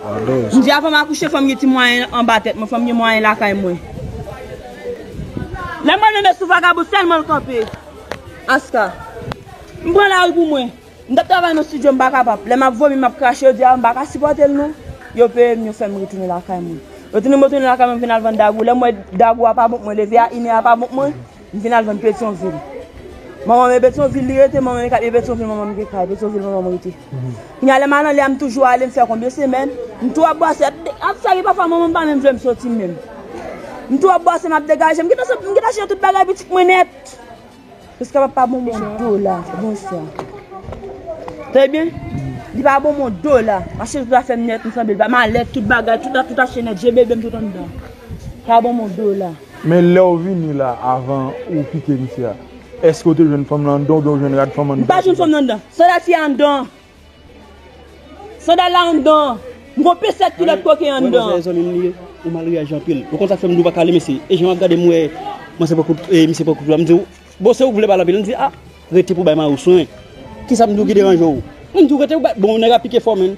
M di avan m akouche fò m gen ti mwayen anba tèt mwen, fò m gen mwayen lakay mwen. Lè mwen tonbe sou vagabon sèlman l kanpe. Aska. M pran lari pou mwen. M t ap travay nan stidyo m pa kapab. Lè m ap vomi m ap krache yo di a m pa ka sipòte l non. Yo peye m yo fè m retounen lakay mwen. Yo tounen m retounen lakay mwen m vin al vann dagou. Lè m wè dagou a pa bon pou mwen leve a, inè a pa bon pou mwen. M vin al vann petyonvil. Manman m e petyonvil li rete, manman m e kay e petyonvil manman m gen kay, petyonvil manman m rete. Kounya lè m al anlè a m toujou ale m fè konbyen semèn, m tou ap bwase ap de ap sa ki pafwa manman m pa menm vle m soti menm. M tou ap bwase m ap degaje m gentan sot m gentan chanje tout bagay pitit mwen nèt. Prisca pa pa bon moun dola bonswa. Tande byen, li pa bon moun dola, ap chanje tout afè m nèt m sanble l pa malèt tout bagay tout ap tout achte nèt je bebe m tout anndan. Pa bon moun dola. Men lèw vini la avan ou kite misye a eske ou te jwenn fanm lan anndan oubyen ou jwenn rad fanm anndan. M pa jwenn fanm lan anndan. Sandal fi a anndan an. Sandal la anndan an. M gon pe 7 kilòt koken anndan an. Wè manzè zanmim li ye ou mal reyaji anpil ou konn sak fèm di ou paka ale mesye e jan wap gadem wè manzè poko e misye poko twouve m diw bon se ou ki vle pale anpil li di a rete pou bay mariw swen kisam diw ki deranje w m diw rete bon nèg a pike fò menn.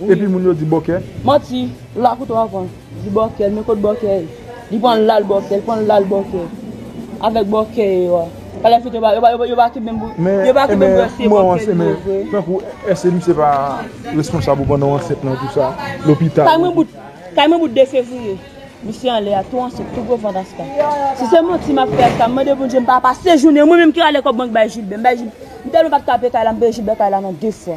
Epi moun yo di bòkè. Manti, ou la pou 3 van. Di bòkè, men kot bòkè ye. Li pran lal bòkè, li pran lal bòkè. Avèk bòkè ye yo a. Pa la fèt yo pa, yo pa, yo pa ki menm pou, yo pa ki menm pou èske bòkè li yo vre. Tankou èske misye pa responsab ou pran nan ansent nan tout sa, lopital. Kay mwen bout, kay mwen bout 2 fevriye. Misye anlè a, tou ansent, tou gwo vant aska. Si se manti map fè aska, m mande Bondye m pa pase jounen mwen menm ki rale kòb bank bay Jilbè. M bay Jilbè, m tèlman pat ka peye kay la, m peye Jilbè kay la nan 2 fwa.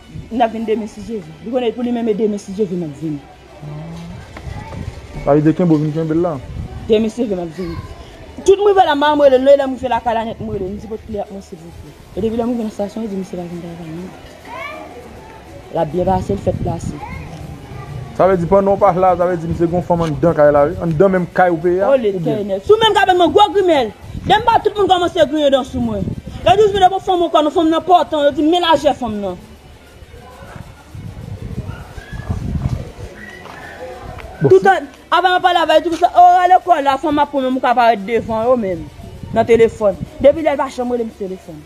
N ap vin demen si Jezi. Li konnen pou li menm e demen si Jezi m ap vin. Sa vle di kenbe w vin kenbe l la. Demen si Jezi m ap vin. Tout m rive la m pa janm rele l non e lè m rive lakay la nèt m rele l m di pot kle ak mwen silvouplè. E depi lè m rive nan stasyon yo di misye pa vin travay non. L ap byen pase l fèt plase. Sa vle di pandan w pa la sa vle di misye gen yon fanm anndan kay la wi. Anndan menm kay ou peye a oubyen. Olye tènèbs ou menm k ap ban m yon gwo grimèl. Dem pa tout moun komanse griyen dan sou mwen. Yo di jmi de bon fanm ankò non fanm nan pòtan yo di men lajè fanm nan. Toutan avan map pale avè yo di konsa oh al lekòl la fanm ap pran menm ou ka parèt devan yo menm nan telefòn. Depi lè yo pa janm relem sou telefòn.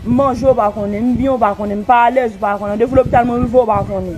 M manje ou pa konnen, m byen ou pa konnen, m pa alèz ou pa konnen, randevo lopital mwen rive ou pa konnen.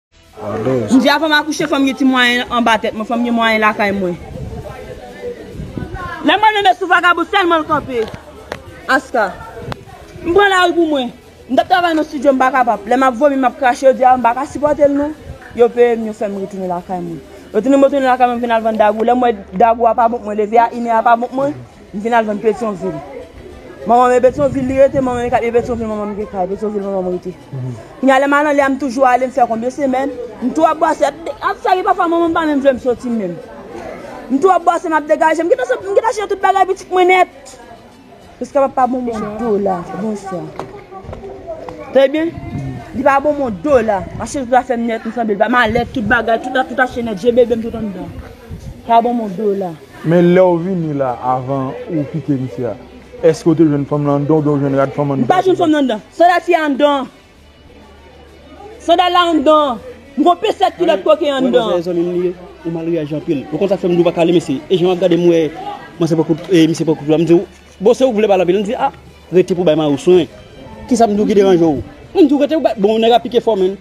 M di avan m akouche fò m gen ti mwayen anba tèt mwen, fò m gen mwayen lakay mwen. Lè mwen tonbe sou vagabon sèlman l kanpe. Aska. M pran lari pou mwen. M t ap travay nan stidyo m pa kapab. Lè m ap vomi m ap krache yo di a m pa ka sipòte l non. Yo peye m yo fè m retounen lakay mwen. Yo tounen m retounen lakay mwen m vin al vann dagou. Lè m wè dagou a pa bon pou mwen leve a, inè a pa bon pou mwen. M vin al vann petyonvil. Manman m e petyonvil li rete, manman m e kay e petyonvil manman m gen kay, petyonvil manman m rete. Kounya lè m al anlè a m toujou ale m fè konbyen semèn, m tou ap bwase ap de, ap sa ki pafwa manman m pa menm vle m soti menm. M tou ap bwase m ap degaje m gentan sot m gentan chanje tout bagay pitit mwen nèt. Prisca pa pa bon moun dola bonswa. Tande byen, li pa bon moun dola, ap chanje tout afè m nèt m sanble l pa, malèt tout bagay tout ap tout achte nèt je bebe m tout anndan. Pa bon moun dola. Men lèw vini la avan ou kite misye a eske ou te jwenn fanm lan andan oubyen ou jwenn rad fanm anndan. M pa jwenn fanm lan anndan. Sandal fi a anndan an. Sandal la anndan an. M gon pesèt kilòt koken anndan an. Wè manzè zanmim li ye ou mal reyaji anpil ou konn sak fèm diw pa kale mesye e jan wap gadem m wè manzè poko e misye poko twouve m diw bon se ou k vle pale anpil li di ah rete pou bay mari w swen kisam diw ki deranjew m diw rete pou bay bon nèg a pike fò menn.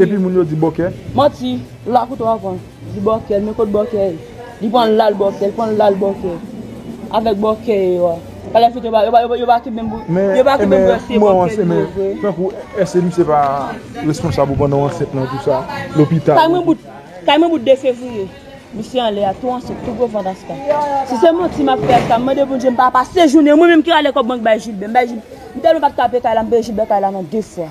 Epi moun yo di bòkè. Manti, ou la kouto avan. Di bòkè, men kot bòkè ye. Li pran lal bòkè, li pran lal bòkè. Avèk bòkè ye yo a. Pa la fèt yo pa, yo pa, yo pa ki menm pou, yo pa ki menm pou ese bòkè li yo vre. Tankou ese misye pa responsab ou pran nan ansent nan tout sa, lopital. Kay mwen bout, kay mwen bout 2 fevriye. Misye anlè a tou ansent, tou gwo vant aska. Si se manti map fè aska, mande Bondye mpa pase jounen mwen menm ki rale kòb bank bay Jilbè. Mba Jilbè, mtèlman pat ka peye kay la, mpeye Jilbè kay la nan 2 fwa.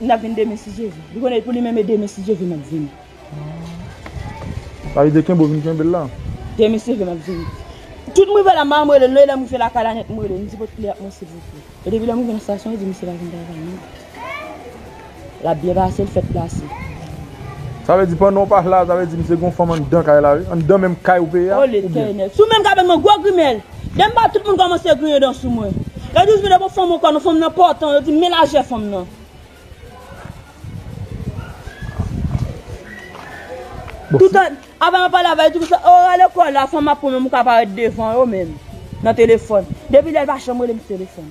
N ap vin demen si Jezi. Li konnen pou li menm e demen si Jezi m ap vin. Sa vle di kenbe w vin kenbe l la. Demen si Jezi m ap vin. Tout mrive la ma m rele l non e lè m rive lakay la nèt m rele l m di pot kle a pou mwen silvouplè. E depi lè m rive nan stasyon li di misye pa vin travay non. L ap byen pase l fèt plase. Sa vle di pandan w pa la sa vle di misye gen yon fanm anndan kay la wi. Anndan menm kay ou peye a oubyen. Olye tènèbs ou menm kabann mwen gwo grimèl. Dem pa tout moun komanse griyen dan sou mwen. Yo di jmi de bon fanm ankò non fanm nan pòtan yo di men lajè fanm nan. Toutan avan map pale avè yo di konsa oh al lekòl la fanm ap pran menm ou ka parèt devan yo menm nan telefòn depi lèl pa janm rele m sou telefòn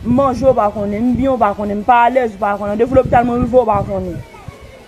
m manje ou pa konnen m byen ou pa konnen m pa alèz ou pa konnen an depi lopital mwen rive ou pa konnen.